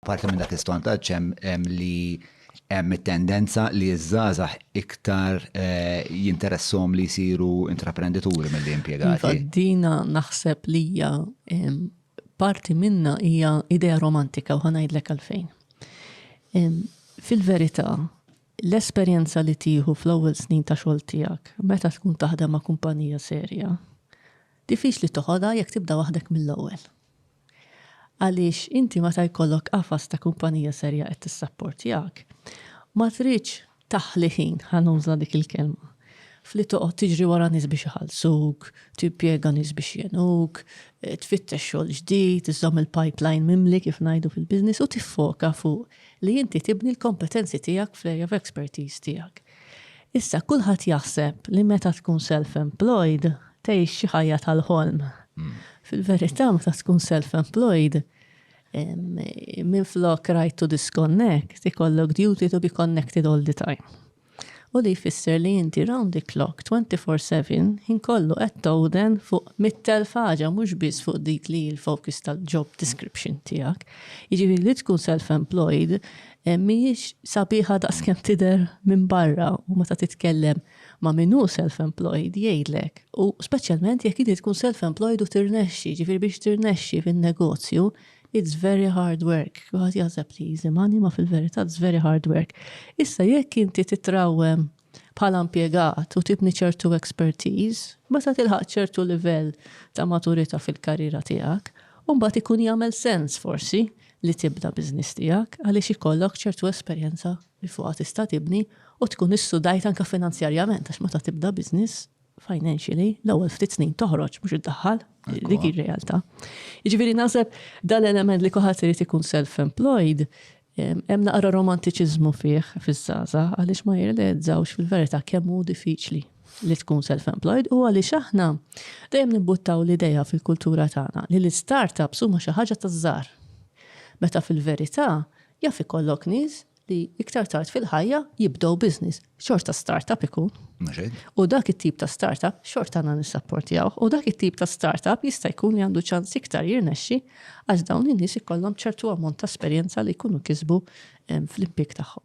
Parti minn dak is-sondaġġ hemm li hemm it-tendenza li ż-żgħażagħ iktar jinteressahom li jsiru intraprendituri milli impjegati. Iva, dina naħseb li hija parti minna hija idea romantika u ħanajdlek għalfejn. Fil-verità, l-esperjenza li tieħu fl-ewwel snin ta' xogħol tiegħek meta tkun taħdem ma' kumpanija serja, diffiċli toħodha jekk tibda waħdek mill-ewwel. Għaliex inti meta jkollok qafas ta' kumpanija serja qed tissapportjak, ma tridx taħli ħin, ħa nuża dik il-kelma, f'li toqgħod tiġri wara nies biex iħallsuk, timpjega nies biex jgħinuk, tfittex xogħol ġdid, iżżomm il-pipeline mimli kif ngħidu fil-business u tiffoka fuq li inti tibni l-kompetenzi tiegħek fl-area of expertise tiegħek. Issa kulħadd jaħseb li meta tkun self-employed tgħix xi ħajja tal-ħolm. Fil-verità meta tkun self-employed minn flok right to disconnect ikollok duty to be connected all the time. U li jfisser li inti round the clock 24/7 ħin kollu qed towden fuq mit-telf ħaġa mhux biss fuq dik li l-focus tal-job description tiegħek. Jiġifieri li tkun self-employed Eh, mhijiex sabiħa daqskemm tidher minn barra u meta titkellem ma' min hu self-employed jgħidlek. U speċjalment jekk inti tkun self-employed u tirnexxi, ġifieri biex tirnexxi fin-negozju, it's very hard work. Kulħadd jaħseb li easy money ma fil-verità it's very hard work. Issa jekk inti titrawwem bħala impjegat u tibni ċertu expertise, meta tilħaq ċertu livell ta' maturità fil-karriera tiegħek, u mbagħad ikun jagħmel sens forsi li tibda business tiegħek għaliex ikollok ċertu esperjenza li fuqha tista' tibni u tkun issudajt anke finanzjarjament għax meta tibda business financially l-ewwel ftit snin toħroġ mhux iddaħħal dik ir-realtà. Jiġifieri naħseb dal-element li kulħadd irid ikun self-employed Hemm naqra romantiċiżmu fih fiż-żgħażagħ għaliex ma jirrealizzawx fil-verità kemm hu diffiċli li tkun self-employed u għaliex aħna dejjem nibbuttaw l-idea fil-kultura tagħna li l-istartups huma xi ħaġa taż-żgħar. Meta fil-verità jaf ikollok nies li iktar tard fil-ħajja jibdew business xorta startup ikun. U dak it-tip ta' startup xorta għandna nisapportjaw. U dak it-tip ta' startup jista' jkun li għandu ċans iktar jirnexxi għax dawn in-nies ikollhom ċertu ammont ta' esperjenza li jkunu kisbu fl-impik tagħhom.